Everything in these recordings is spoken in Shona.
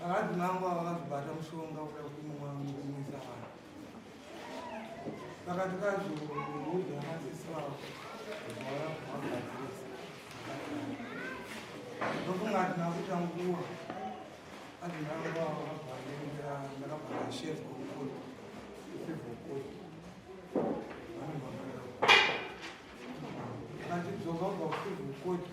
Vakadzi mangu ava vakazobata mushonga kuda kuti mumwe mukumisa vanhu vakati kazouudza madzisi vavo vaagadzirisa ndofunga ati nakuita nguva ati mangu ava vakabvaenza ndakabvaa shef kokoti ifivokoti vanobvaa akatidzoka kubva kufivokoti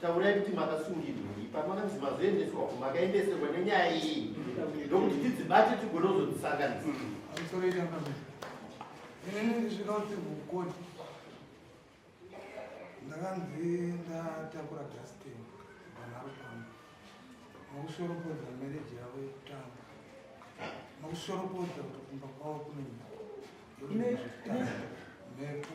Taurai kuti makasungirwei pamakanzi mazoendeswa ku makaendeserwa nenyaya iyi ndokuti tidzibate tigone kuzodzisanganisa. Ini ndisvika kuti vukoti ndakanzi ndatakura Justin panharo pangu nokushoropodza mereji yavo yekutanga nokushoropodza kuti kumba kwavo kune mhepo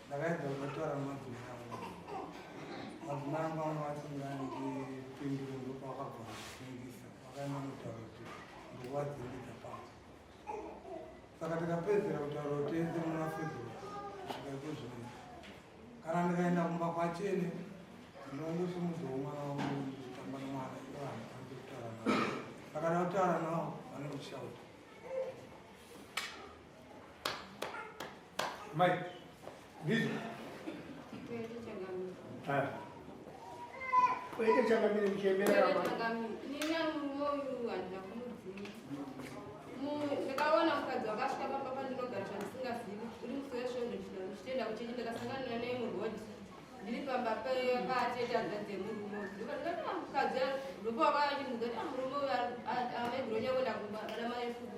ndakaedza kuvatora mabvina avo mabvina angu vanga vasinga ndipindure ndopa vakagona kufungisa vakaenda kutaura kuti ndokuvadzimbidza pavo saka tikapedzera kutaura kuti ese muna february kusvika ikozvino kana ndikaenda kumba kwachene ndinongosi mudzi womwana wangu nditamba nomwana ivanhu vanzi kutaura navo vakada kutaura navo vanokushauta Mai, ndizvo. Ah. Kwete changamire muchembera apa. Nina muoyu handina kumudzima. Ndakaona mukadzi wakasvika pamba pandinogara zvandisingazivi. Uri musoya svondo ndinoda kuchitenda kuti ndakasanganira naye muroad. Ndiri pamba patete hadza dzemurume. Ndipo ndikati ah, mukadzi ndipo wakayachimudza kuti ah, murume uyu amai Gronya kwenda kumba kana mai Fuku.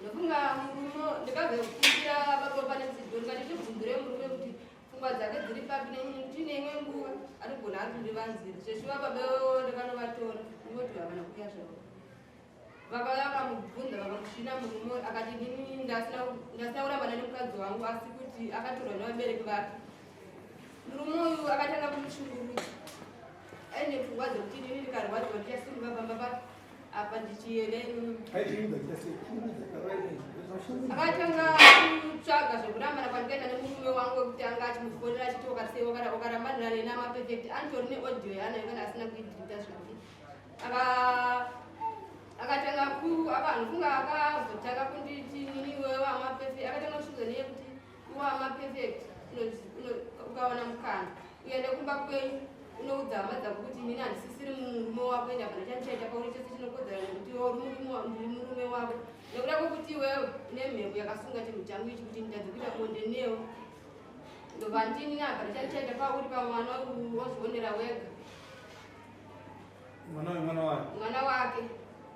ndofunga murume ndikabve kukumbira baba pane dzidzo ndikati tibvunzire murume kuti pfungwa dzake dziri papi netine imwe nguva anogona ari kundivanzira zveshuva baba iwewo ndakanovatora ndingoti havana kuya zvavo baba vakamubvunza vakamusvina murume akati nini ndasina kurambana nemukadzi wangu asi kuti akatorwa nevabereki vake murume uyu akatanga kumushungurudza aine pfungwa dzekuti nini ndikarwadziwa ndichasimuka pamba pake apa ndichiyereni akatanga kutsvaga zvekurambana kwandikaita nemurume wangu wekutanga achimufonera achiti ukasei ukarambanira neni amapefect anditori neaudio yaanayo kana asina kuidirita zvake akatanga ku akanhu kunga akazotanga kunditi nini iwewe amapefect akatanga kushuza neye kuti Nguva ma perfect ukawana mukana uende kumba kwenyu unoudza hama dzako kuti inini handisisiri murume wako ende hapana chandichaita pauri chose chinokodzera nekuti iwe uri murume wako nekuda kwekuti iwewe une mhepo yakasunga chinhu changu ichi kuti nditadze kuita bonde newo ndobva ndini hapana chandichaita pauri pamwana wozvionera wega mwana wemwana wake mwana wake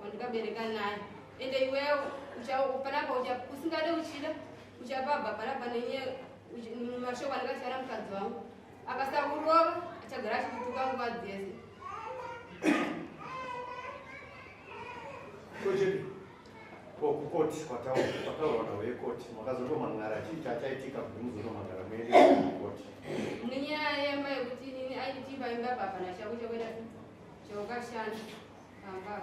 wandikabereka naye ende iwewo uchapana pa usingade uchida uchapa bhabharabha nenye mashoko anenge achivara mukadzi wangu akasakurova achagara achikutuka nguva dzese kukoti kwataura nhau yekoti makazotoman'ara chii chachaitika kuti muzotoman'ara muende kukoti nenyaya yemba yekuti inini aitimba imba bhabha nachako chakuita chaukashanda pambaa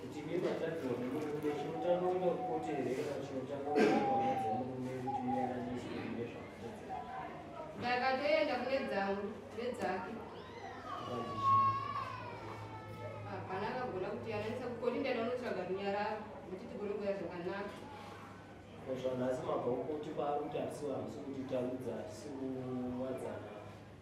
Kuti mimi atadzwa nemurume chinotanga kuenda kukote here kana chinotanga kuenda kuhama dzemurume kuti muyananiswe mune zvakatadzira. Ndakatoenda kune dzangu nedzake. Hapana akagona kuti yananisa kukoti ndaenda unotsvaga runyararo kuti tigone kuya zvakanaka. Zvanhasi mabva kukoti kwaari kuti hatisi vamusi kuti tarudza hatisi kuwadzana.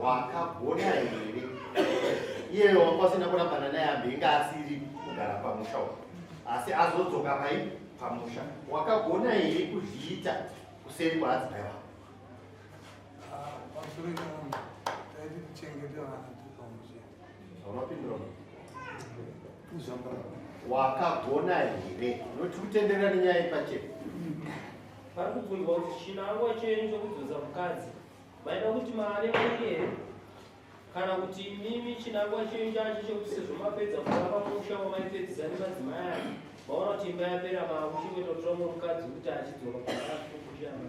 wakagona here iyeyo wanga usina kurambana naye ambe inga asiri kugara pamusha uko asi azodzoka pai pamusha wakagona here kuzviita kuseri kwaadzimai wako ah, pamusoro ikaona taiti kuchengeta vana tipamusha Unopindura. Uzambara. Wakagona here? Noti kutenderera nenyaya yepachena. Vari kubvunzwa kuti chinangwa chenyu chokudzoza mukadzi. Maida kuti mari mari here? Kana kuti imimi chinangwa chenyu chacho chekuti sezvo mapedza kuva pamusha wamaipedzisa nemadzimai aya. Maona kuti imba yapera mava kuchingototora mumwe mukadzi kuti achidzoka kuaakukushama.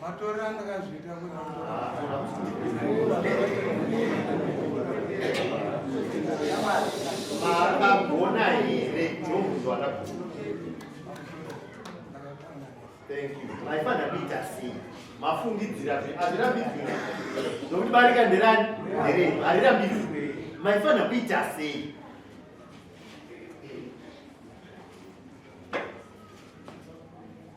matora ndakazviita makagona here jomuzo akagona thank you maifanira kuita sei mafungidzira hazvirambidzwe nokuti barika nderani nderenyu harirambidzwe maifanira kuita sei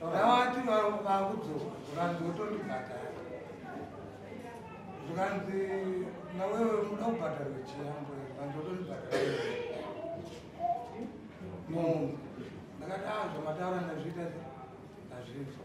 Vakavati vakudzoka zvikanzi votondibhadhara zvikanzi nawewe unoda kubhadharwa chiyambo zvikanzi votondibhadhara munhu ndakati a zvamataura ndazviita ndazvinzwa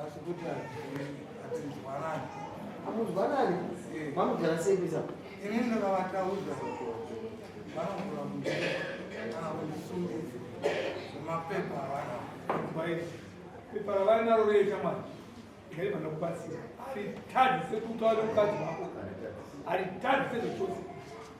Asi kuti hatinzwanani. Hamunzwanani? Vanogara sei kuisa? Ini ndakavataudza vanogara kuti kana kundisungisa mapepa avana. Baiti. Pepa ravanaro reita mwana. Ngaiva nokubatsira. Haritadzi sekutaura mukadzi wako. Haritadzi sezvechose.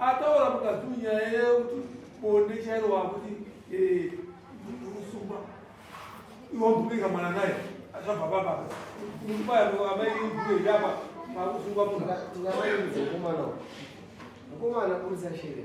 ataura mukadzi uyu nyaya yekuti bonde chairo wakuti eh, usungwa iwambubika mwana naye achava baba kubaya amai mbuye yapa pakusungwa munhu mukomana mukomana kurisa shere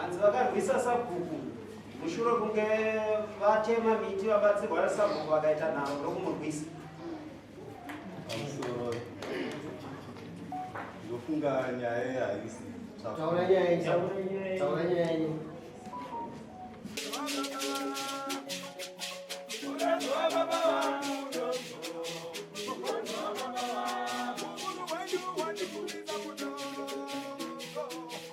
Hanzi vakarwisa sabhuku mushure kunge vatema miti vabatsirwa nasabhuku vakaita nharo ndokumurwisa pamusoro ndofunga nyaya iyi haisi taura nyaya yenyu taura nyaya yenyu